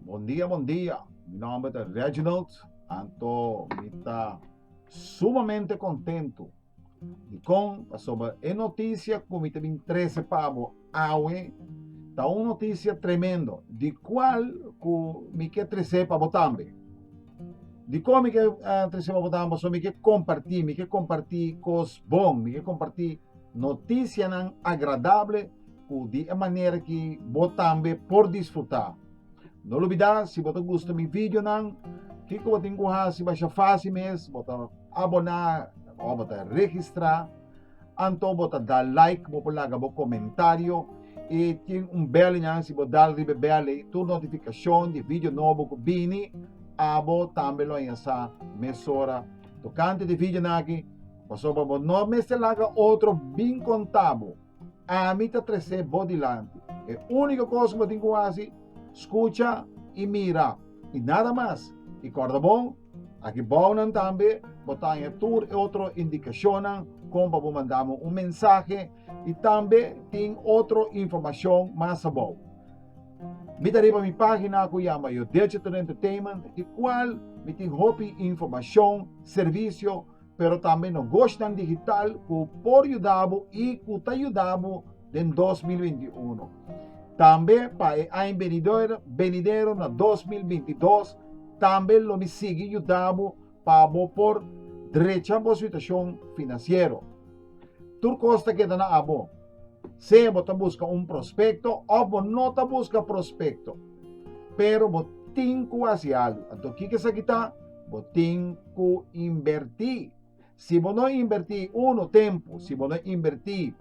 Bon dia, bon dia. Mi nomber ta Reginald, anto mi ta sumamente contento. Di con? Pasobra e noticia cu mi ta bin trece pa bo awe ta un noticia tremendo, di cual cu mi ke trece pa bo tambe. Di con mi ke trece pa bo tambe? Pasobra mi ke comparti, mi ke comparti cos bon, mi ke comparti. Notisianan agradabel cu di e manera ki bo tambe por disfruta. No lubida si bo ta gusta mi videonan, kico bo tin cu haci basha faci mes, bo ta abona o bo ta registra, anto bo ta da like, bo por laga bo comentario y tin un bel nan si bo dal riba e bel ey tur notificacion di video nobo cu bini abo tambe lo a yasa mesora tocante di videonan aki. Pasobra bo no mester laga otro bin konta bo, ami ta tres'é bo dilanti. E úniko kos ku bo tin ku hasi, skucha i mira, i nada mas. I kòrda bo, aki bou nan tambe bo ta haña tur e otro indikashonnan kon pa bo manda mi un mensahe i tambe tin otro informashon mas abou. Mi ta riba mi página ku yama Yo Decha Tur Entertainment, di kual mi tin hopi informashon, servisio, pero tambe nogoshnan digital ku por yudabo i ku ta yudabo den 2021. Tambe pa e aña benidero, benidero na 2022, tambe lo mi sigui yudabo pa bo por drecha bo situashon finansiero. Tur kos ta keda na abo. Sea bo ta buska un prospekto òf bo no ta buska prospekto, pero bo tin ku hasi alu. Anto kiko esaki ta? Bo tin ku inbertí. Si bo no inbertí uno tempu, si bo no inbertí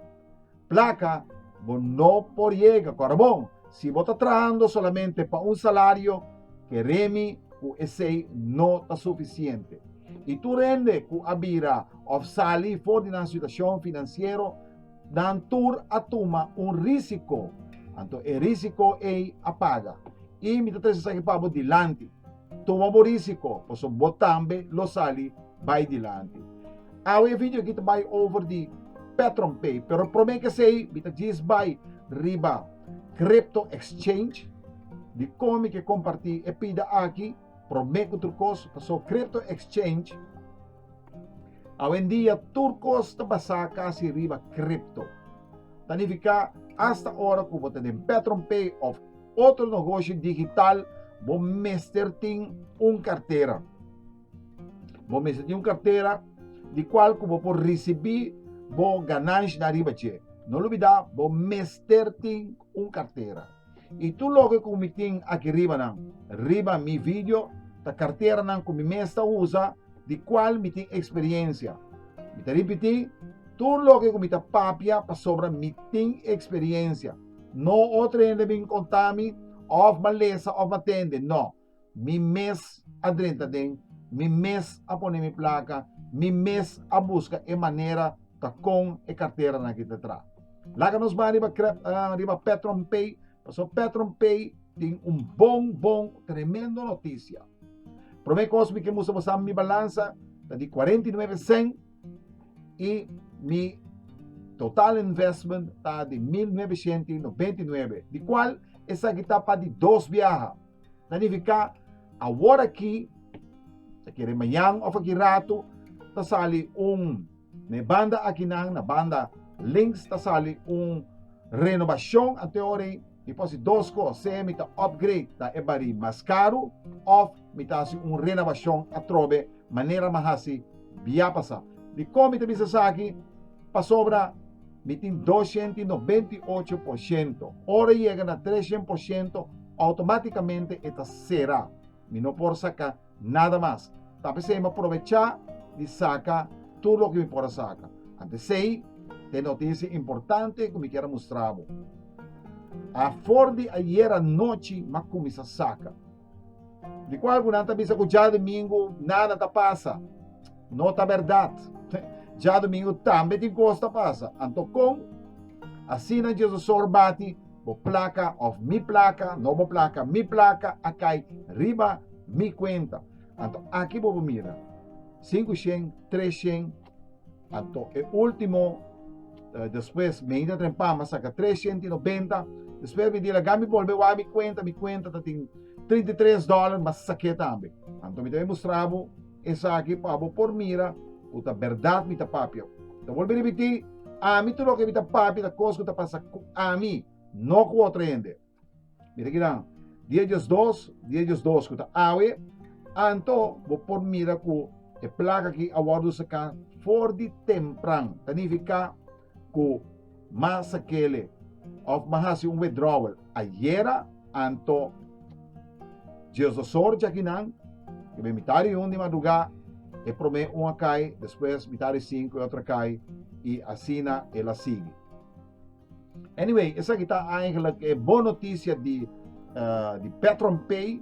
plaka, bo no por yega. Kòrda bon, si bo ta trahando solamente pa un salario, keremi ku esei no ta sufisiente. I tur hende ku a bira òf sali for di nan situashon finansiero, nan tur a tuma un rísiko. Anto e rísiko ei a paga. I mi ta trese esaki pa bo dilanti. Tuma bo risiko, pasobra bo tambe lo sali bai dilanti. Awe e video aki ta bai over di PetronPay, pero prome kesey mi ta djis bai riba Crypto Exchange, di kon mi ke komparti e pida aki prome ku tur kos, pasobra Crypto Exchange awendia tur kos ta basá kasi riba Crypto. Ta nifiká asta ora ku bo ta den PetronPay òf. otro nogoshi digital bo mester tin un kartera. Bo mester tin un kartera di kual ku bo por risibí bo gananshanan riba dje. No lubidá bo mester tin un kartera. I tur loke ku mi tin aki riba nan, riba mi vidio, ta karteranan ku mi mes ta usa di kual mi tin eksperiensia. Mi ta ripití, tur loke ku mi ta papia pasobra mi tin eksperiensia. No otro hende bin konta mi òf ban lesa òf ban tende, nò. Mi mes a drenta den, mi mes a pone mi plaka, mi mes a buska e manera ta kon e karteranan aki ta tra. Laga nos ban riba krep, ah, riba PetronPay, pasobra PetronPay tin un bon, bon, tremendo notisia. Promé kos mi ke mustra bo sa mi balansa ta di kuarenta i nuebe sèn. y mi total investment ta di mil noveciento y noventa y nuebe, di cual esaki ta pa di dos biaha. Ta nifica awor aki, ta kere mañan of aki rato, ta sali un, na e banda akinan, na banda links, ta sali un renobacion anto e ora ey. Mi por hasi dos kos, sea mi ta upgrade ta e barí mas karu òf mi ta hasi un renabashon atrobe manera mi a hasi biapasa. Dikon mi ta bisa esaki? Pasobra mi tin dos shent i nobenta i ocho por shento. Ora e yega na tres shent por shento, outomátikamente e ta sera. Mi no por saka. Nada mas. Ta p'esei m'e probechá di saka tur loke mi por a saka. Antesei, ta e notisia importante ku mi kier a mustra bo. A for di ayer anochi m'a kuminsá saka. Di kual ku nan ta bisa ku djadumingu nada ta pasa. No ta bèrdat. Djadumingu tambe tin kos ta pasa. Anto kon? Asina Jesusor bati, Bo plaka òf mi plaka, no bo plaka, mi plaka a kai riba Mi cuenta. Anto aki bo por mira. Cinco shen, tres shen. Anto e ultimo Eh, después me hinta tren pama saca 390 después me dila gami volve wa mi cuenta mi cuenta ta tin 33 dólar mas saque tambe anto mi te mostrabo esa aquí pabo por mira uta verdad mi ta papia te volve repeti ami tu loke mi ta papia ta cos ta pasa cu ami no cu otro hende Mira aquí dan. Di ellos dos, di ellos dos cu ta awe, anto bo por mira cu e placa aquí a wordo saca for di tempran. Ta nifica cu ma sakele of ma hasi un withdrawal ayera, anto Dios dos sor jakinan, que ben mitad di un di madruga, e prome un a kai, despues mitad di cinco e otro a kai, y asina el a sigui. Anyway, esaki ta eigenlijk e bon noticia di, uh, di Petron Pay.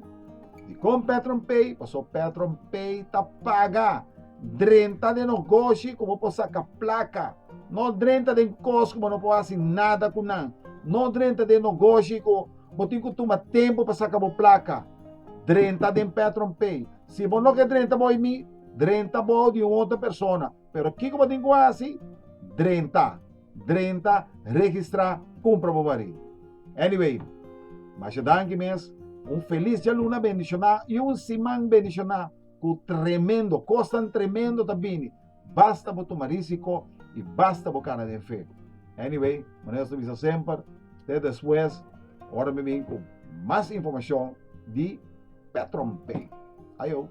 Di kon Petron Pay, paso Petron Pay ta paga drenta de negoshi como po saca placa. No drenta den kos como no po hasi nada ku nan. No drenta den negoshi ku bo tin ku tuma tempo pa saca bo placa. Drenta den Petron Pay. Si bo no ke drenta bo mi, drenta bo di un otra persona. Pero kiko bo tin ku hasi? Drenta. Drenta, registrá, kumpra bo barí. Anyway, masha danki mes, un felis djaluna bendishoná i un siman bendishoná ku tremendo kosnan tremendo ta bini, basta bo tuma risiko i basta bo kana den fe. Anyway, maneras no bisa semper, te despues, ora mi bin ku mas informashon di Petronpay. Ayo!